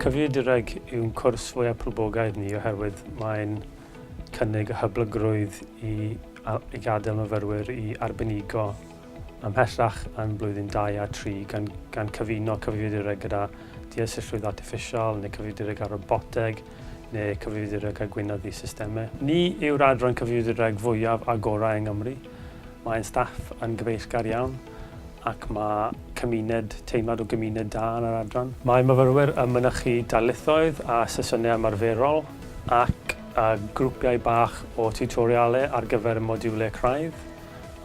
Cyfiedireg yw'n cwrs fwyaf poblogaidd ni oherwydd mae'n cynnig y hyblygrwydd i i gadael myfyrwyr i arbenigo ymhellach yn blwyddyn 2 a 3 gan, gan cyfuno cyfiedireg gyda deallusrwydd artiffisial neu cyfiedireg ar roboteg neu cyfrifiadureg a gweinyddu systemau. Ni yw'r adran cyfrifiadureg fwyaf agorau yng Nghymru. Mae ein staff yn gyfeillgar iawn ac mae cymuned, teimlad o gymuned da yn yr adran. Mae myfyrwyr yn mynychu darlithoedd a sesiynau ymarferol ac a grwpiau bach o tiwtorialau ar gyfer y modiwlau craidd.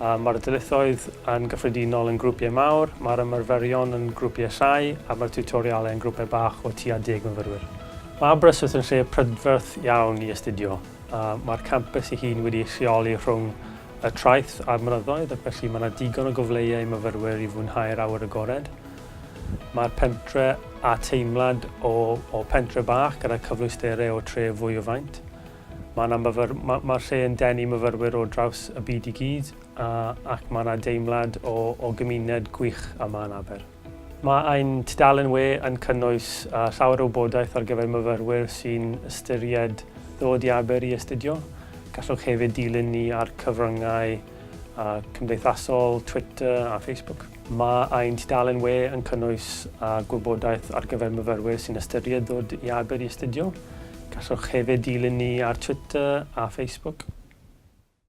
Mae'r dyletswydd yn gyffredinol yn grwpiau mawr, mae'r ymarferion yn grwpiau llai a mae'r tiwtorialau yn grwpiau bach o tua deg myfyrwyr. Mae Aberystwyth yn lle prydferth iawn i astudio. Mae'r campws ei hun wedi ei lleoli rhwng y traeth a'r mynyddoedd ac felly mae yna digon o gyfleoedd i myfyrwyr i fwynhau'r awyr agored. Mae'r pentre â teimlad o pentre bach gyda cyfleusterau o tref fwy o faint. Mae 'na myfyr... ma- mae'r lle yn denu myfyrwyr o draws y byd i gyd a... ac mae 'na deimlad o... o gymuned gwych yma yn Aber. Mae ein tudalen we yn cynnwys yy llawer o wybodaeth ar gyfer myfyrwyr sy'n ystyried ddod i Aber i astudio. Gallwch hefyd dilyn ni ar cyfryngau yy cymdeithasol, Twitter a Facebook. Mae ein tudalen we yn cynnwys gwybodaeth ar gyfer myfyrwyr sy'n ystyried dod i Aber i astudio. Gallwch hefyd dilyn ni ar Twitter a Facebook.